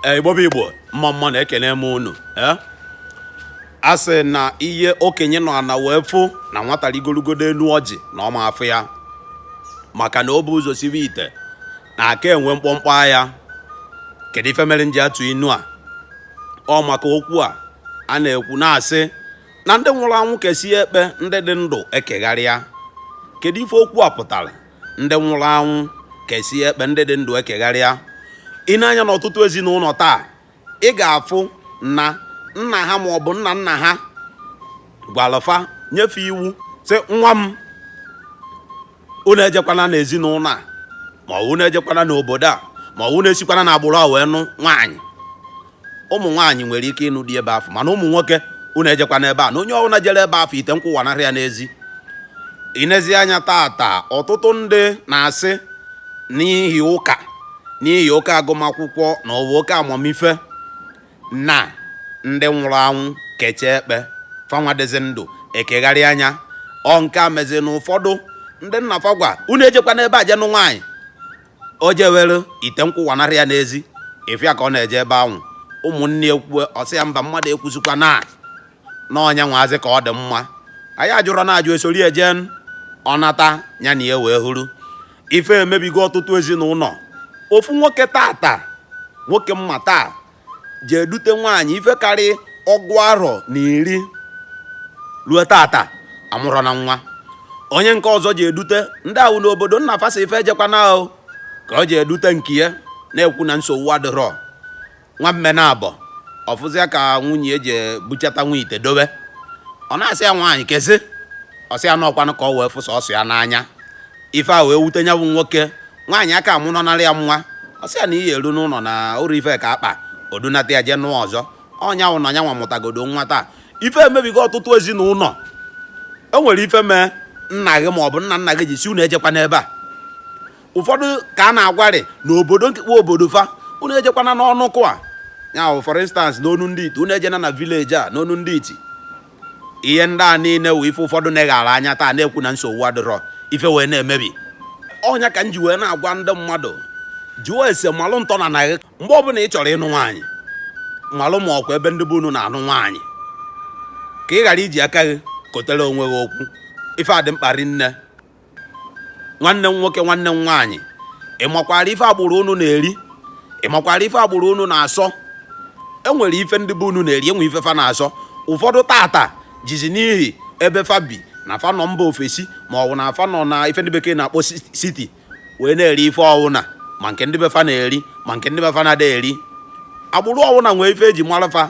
Eh, igbo bụ igbo mma mma nụ ekenee m unu eh? a sị na ihe okenye nọ ana wee fụ na nwata rigorogodo elu ọjị na ọ ma afụ ya maka na o bu ụzọ siwe ite na-aka enwe mkpọmkpọ agha kedu ife mere m ji atụ inu a ọ maka okwu a a na-ekwu na-asị na ndị nwụrụ anwụ kesie ekpe ndị dị ndụ ekegharịa kedu ife okwu a pụtara ndị nwụrụ anwụ kesie ekpe ndị dị ndụ ekegharịa i nee anya n'ọtụtụ ezinụlọ taa ị ga-afụ na nna ha ma ọ bụ nna nna ha gwalụ fa nye fa iwu sị nwa m unu ejekwana n'ezinụlọ a ma ọ bụ unu ejekwana n'obodo a ma ọ bụ unu esikwana n'agbụrụ a wee nụ nwaanyị ụmụ nwaanyị nwere ike ịnụ di ebe afụ mana ụmụ nwoke unu ejekwana ebe a na onye ọbụla jere ebe afụ ite nkwụ awanarị ya n'ezi i nezie anya tata ọtụtụ ndị na-asị n'ihi ụka n'ihi oke agụmakwụkwọ na ụwa oke amamife na ndị nwụrụ anwụ kechaa ekpe fa nwa dịzị ndụ ekegharịa nya ọ nke a mezi na ụfọdụ ndị nna fa gwa unu ejekwana ebe a jee nụ nwaanyị o jewere ite nkwụ awanarị ya n'ezi ị fụ ya ka ọ na-eje ebe ahụ ụmụnne ya ekwue ọ sị ya mba mmadụ ekwuzikwana na ọ nya nwaazị ka ọ dị mma anyị ajụrọ na ajụ esori eje nụọ nata ya na ya wee wụrụ ife emebigo ọtụtụ ezinụlọ ofu nwoke tata nwoke m ma taa jee dute nwaanyị ife karị ọgụ arọ na iri ruo tata amụrọ na nwa onye nke ọzọ jee dute ndị ahụ n'obodo nna fa sị fa ejekwana ahụ ka o jee dute nke ya na-ekwu na nsogbu adịrọ nwa mme na abọ ọ fụzịa ka nwunye ya jee buchata nwa ite dobe ọ na-asị ya nwaanyị kezi ọ sị ya na ọ kwanụ ka ọ wee fụsa ọsụ ya n'anya ife a wee wute nya bụ nwoke nwaanyị aka amụ nọnara ya nwa ọ sị ya na ihe eru n'ụlọ na ụrụ ife ka akpa o dunata ya jee nụọ ọzọ ọ nya wụ na ya nwa mụtagodo nwa taa ife emebigo ọtụtụ ezinụlọ e nwere ife mee nna gị ma ọ bụ nna nna gị ji sị unu ejekwana ebe a ụfọdụ ka a na-agwarị na obodo nkekwa obodo fa unu ejekwana n'ọnụ kụa ya for instance n'unu ndị iti unu ejena na village a n'onu ndị iti ihe ndị a niile wụ ife ụfọdụ neghara anya taa na-ekwu na nsogbu adịrọ ife wee na-emebi ọ nya ka m ji wee na-agwa ndị mmadụ jụọ ese malụ ntọ ana gị mgbe ọbụla ị chọrọ ịnụ nwaanyị malụ ma ọ kwa ebe ndị be unu na-anụ nwaanyị ka ị ghara iji aka gị kotere onwe gị okwu ife a dị mkpa rinne nwanne m nwoke nwanne m nwaanyị ị makwara ife agbụrụ unu na-eri ị makwara ife agbụrụ unu na-asọ enwere ife ndị be unu na-eri enwe ife fa na-asọ ụfọdụ tata jizi n'ihi ebe fa bi na fa nọ mba ofesi ma ọ bụ na fa nọ na ife ndị bekee na-akpọ siti wee na-eri ife ọwụna ma nke ndị be fa na-eri ma nke ndị be fa na-ada eri agbụrụ ọwụna nwee ife eji mara fa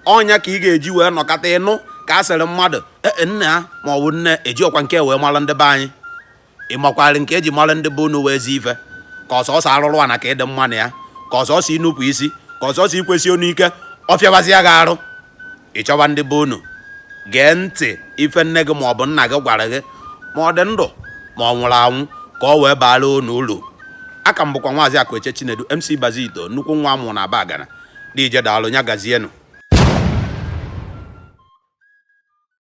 ọ nya ka ị ga-eji wee nọkata ị nụ ka a sịrị mmadụ E, e, nna ya ma ọ bụ nne ejikwa nke wee mara ndị be anyị ị makwara nke eji mara ndị be unu wee zi ife ka ọ sọsọ arụrụ ana ka ị dị mma na ya ka ọ sọsọ inupụ isi ka ọ sọsọ ikwesi onu ike ọ fịabazia gị arụ ị chọba ndị be unu gee ntị ife nne gị ma ọ bụ nna gị gwara gị ma ọ dị ndụ ma ọ nwụrụ anwụ ka ọ wee baara unu uru a ka m bụkwa Maazị Akụeche Chinedu MC Bazito nnukwu nwa amụ na Abagana deje daalụ nya gazienụ